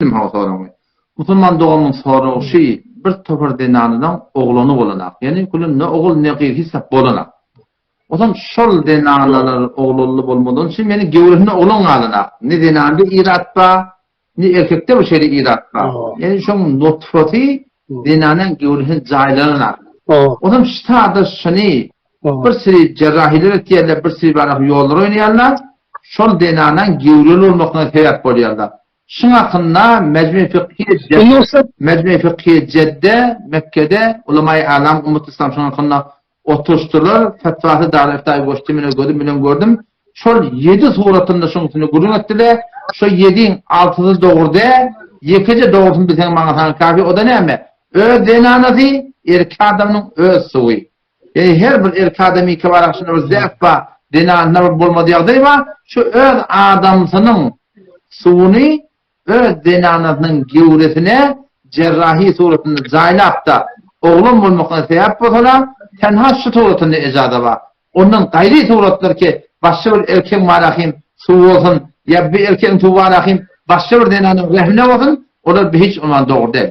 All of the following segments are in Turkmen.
Eşitdim hawa soragyňy. Musulman dogamyň soragy şi, bir topar zenanynyň oglany bolanok. Ýani gülüm ne ogul ne gyz hiç zat bolanok. Ozan şol zenanalar oglanly bolmadan şi meni gewresinde oglan galanok. Ne zenanda irat ba, ne erkekde bir şeýle irat ba. Ýani şoň nutfasy zenanyň gewresinde jaýlananok. Ozan şi sada şini bir siri jerrahiler etýärler, bir siri barah ýollar oýnaýarlar. Şol zenanyň gewreli bolmakyna sebäp bolýarlar. Şuň hakynda Mejmu Fıkhî Jedde, Mejmu Fıkhî Jedde, Mekgede, Ulemaýy A'lam, Ummat Islam şuň hakynda oturyşdylar, fetwasy Darul Iftaýa goşdy, men öz gözüm bilen gördüm. Şol ýedi suratynda şuň üstünde gürrüň etdiler. Şo ýediň altysy dogry däl, ýekeje dogrusyny bilseň maňa saňa kafi, o-da näme? Öz zenanasy, erki adamynyň öz suwy. Ýa-da her bir erki adamy iki bar agşyna bir zäp bar, zenanyna bir bolmaz ýagdaý bar, şu öz adamsynyň suwuny öz zenanasynyň göwresine jerrahi suratynda jaýlap-da, oglan bolmakyna sebäp bolsalar, tenha şu suratynda ejaza bar. Ondan gaýry suratlar ki, başga bir erkegiň barahim suwy bolsun, ýa bir erkegiň suwy barahim başga bir zenanyň rehmine bolsun, olar bi hiç ünwan dogry däl.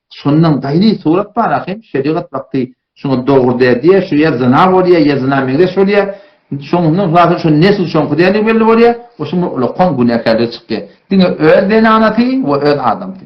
Şondan gaýry surat bar ahim, şerigat wagty şuňa dogry däl diýýär, şu ýa zyna bolýar, ýa zyna meňzeş bolýar. Şoňundan hülasy şu nesil şoňky däldigi belli bolýar we şunda ulakan günäkärligi çykýar. Diňe öz zenanasy we öz adamsy.